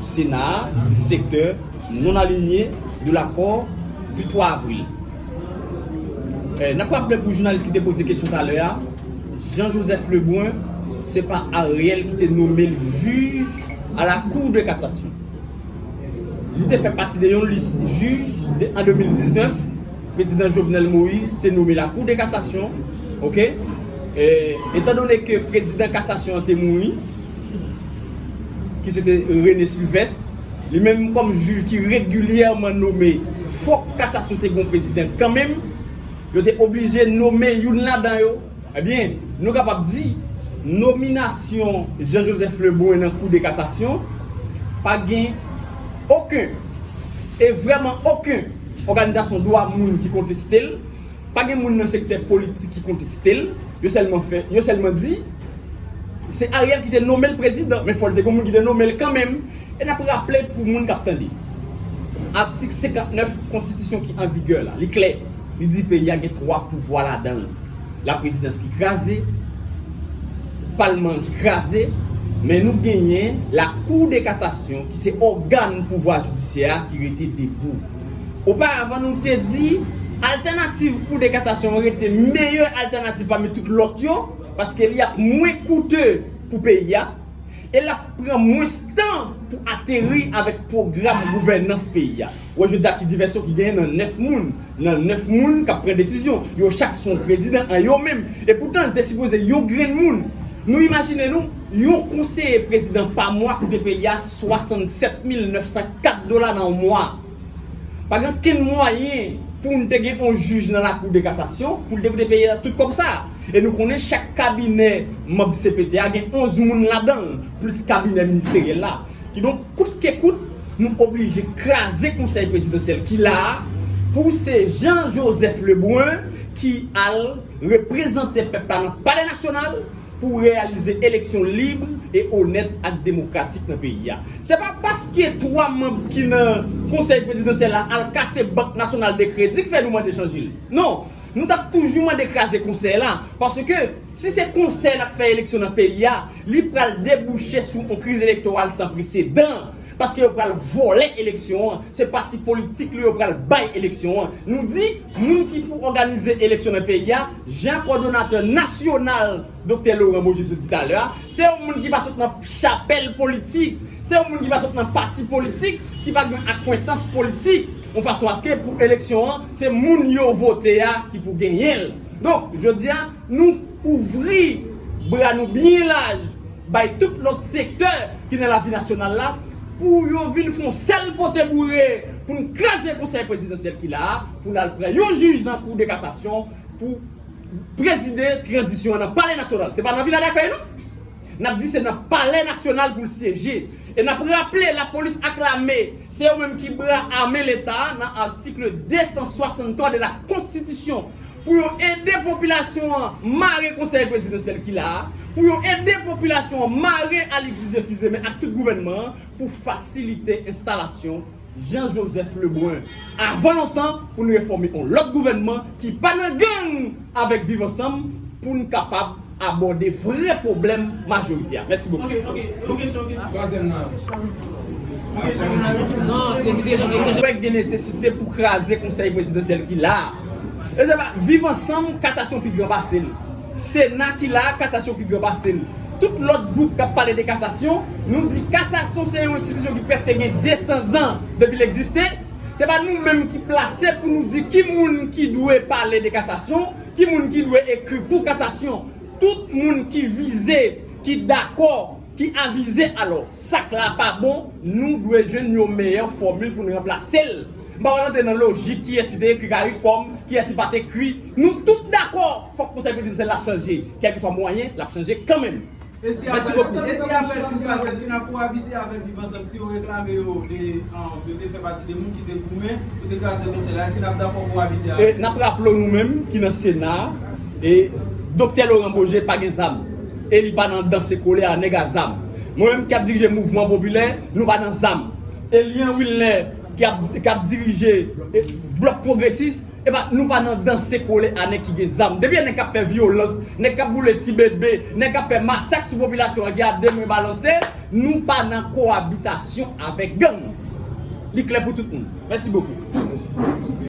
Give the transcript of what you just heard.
Sena a, sektè, non alinye, de lakò, du 3 avril. N ap raple pou jounalis ki te poze kesyon talè a, Jean Joseph Lebrun, se pa Ariel ki te nome l jij a la Cour de Cassation. Li te fè pati de yon lis jij de an 2019, Prezidan Jovenel Moïse te nome la Cour de Cassation. Ok. Etandone ke Prezidan Kasasyon an te mouri, ki se te René Sylvestre, li menm kòm jij ki regilyèman nome, fòk kasasyon te gen yon prezidan kan menm, yo te oblije nome youn ladan yo, ebyen, nou kapab di, nominasyon Jean Joseph Lebrun nan kou de kasasyon, pa gen oken, e vrèman oken, òganizasyon dwa moun ki konteste l. Pa gen moun nan sektè politik ki konteste l, yo sèlman fè, yo sèlman di se Ariel ki te nome l prezidan, men fò l te gen moun ki te nome l kanmenm. E n ap raple pou moun k ap tande, atik 59 konstitisyon ki an vigè la, li klè, li di peyi a gen 3 pouvwa ladan l, laprezidans ki kraze, palman an ki kraze, men nou genyen lakou de kasasyon ki se ògàn pouvwa jidisyè a ki rete debou. Oparavan nou te di altènativ kou de kasasyon rete meyè altènativ pami tout lòt yo paske li ap mwen koute pou peyi a e l ap pran mwens tan pou ateri avèk pwogram gouvènans peyi a. Wè jodi a ki divèsyon ki genyen nan 9 moun nan 9 moun k ap pran desizyon yo chak se yon prezidan an yo menm e poutan l te sipoze yon grenn moun nou imajine nou Yon konseye prezidan pa mwa ou te peye a 67 mil 904 dola nan yon mwa. Pa gen okenn mwayen pou nou te gen yon jij nan lakou de kasasyon pou l te vle peye tout kòb sa a. E nou konnen chak kabinè manb cpt a gen 11 moun ladan l plis kabinè ministeryèl la. Kidonk kout ke kout nou oblije kraze konsèy prezidansyèl ki la a pou se Jean Joseph Lebrun ki al reprezante pèp la nan palè nasyonal pou reyalize eleksyon lib e onèt ak demokratik nan peyi a. Se pa paske 3 manb ki nan Konsèy Prezidansyèl la al kase Bank Nasyonal de Kredi k fè nou mande chanje l. Non, nou t ap toujou mande kraze Konsèy la, paske si se Konsèy la k fè eleksyon nan peyi a, li pral debouche sou on kriz elektoral san presedan. Paske yo pral vòlè eleksyon an, se pati politik nou yo pral bay eleksyon an. Nou di, moun ki pou òganize eleksyon nan peyi a, jan kòdonatè nasyonal Doktè Loran Beaujus di talè a, se yon moun ki pa sot nan chapèl politik, se yon moun ki pa sot nan pati politik, ki pa gen akwentans politik, yon fason aske pou eleksyon an, se moun yo vote a ki pou genyen l. Donk, jodi a, nou ouvri bra nou byen laj bay tout lòt sektè ki nan lavi nasyonal la pou yo vin fè yon sèl pote boure pou nou kraze konsèy prezidansyèl ki la a pou l al pran yon jij nan kou de kasasyon pou prezide tranzisyon an nan palè nasyonal se pa nan vila dakèy non n ap di se nan palè nasyonal pou l syeje e n ap raple lapolis ak lame se yo menm ki bra ame leta nan atikl 263 de la konstitisyon pou yo ede popilasyon an mare konsèy prezidansyèl ki la a, pou yo ede popilasyon an mare Alix Dieufusemen ak tout gouvènman an pou fasilite enstalasyon Jean Joseph Lebrun avan lontan pou n refòme on lòt gouvènman ki pa nan gang avèk Viv Ansanm pou n kapab abòde vrè pwoblèm majorite a. Mèsi bokou. Mwen kwè gen nesesite pou kraze konsèy prezidansyèl ki la a. E se pa viv ansanm kasasyon pi gran pase l. Sena ki la a kasasyon pi gran pase l. Tout lòt gwoup k ap pale de kasasyon, nou di kasasyon se yon enstitisyon ki prèske gen 200 zan depi l egziste. Se pa nou menm ki plase pou nou di ki moun ki dwe pale de kasasyon. Ki moun ki dwe ekri pou kasasyon? Tout moun ki vize, ki dakò, ki avize alò, sak la pa bon, nou dwe jwenn yon meyè fòmil pou n ranplase l. M pa pral antre nan lojik kiyès ki te ekri caricom, kiyès ki pa t ekri. Nou tout dakò fòk Konsèy Prezidansyèl la chanje. Kèlkeswa mwayen, l ap chanje kanmenm. Mèsi bokou. E si aprè kriz la èske nap ko abite avèk viv ansanm si yo reklame yo de yo te fè pati de moun ki te goumen pou te kraze konsèy la èske nap dakò ko abite avèk yo? Nap raple w nou menm ki nan sena e Doktè Laurent Beaugé pa gen zam e li pa nan danse kole a nèg a zam. Mwen menm ki ap dirije mouvman popilè nou pa nan zam. Elian Wilner ki ap dirije blòk pwogresis Epa nou pa nan danse kole a nèg ki gen zam. Depi a nèg kap fè vyolans, nèg kap boule ti bebe, nèg kap fè masak sou popilasyon an ki a 2 men balanse, nou pa nan kowabitasyon avèk gang. Li klè pou tout moun. Mèsi bokou.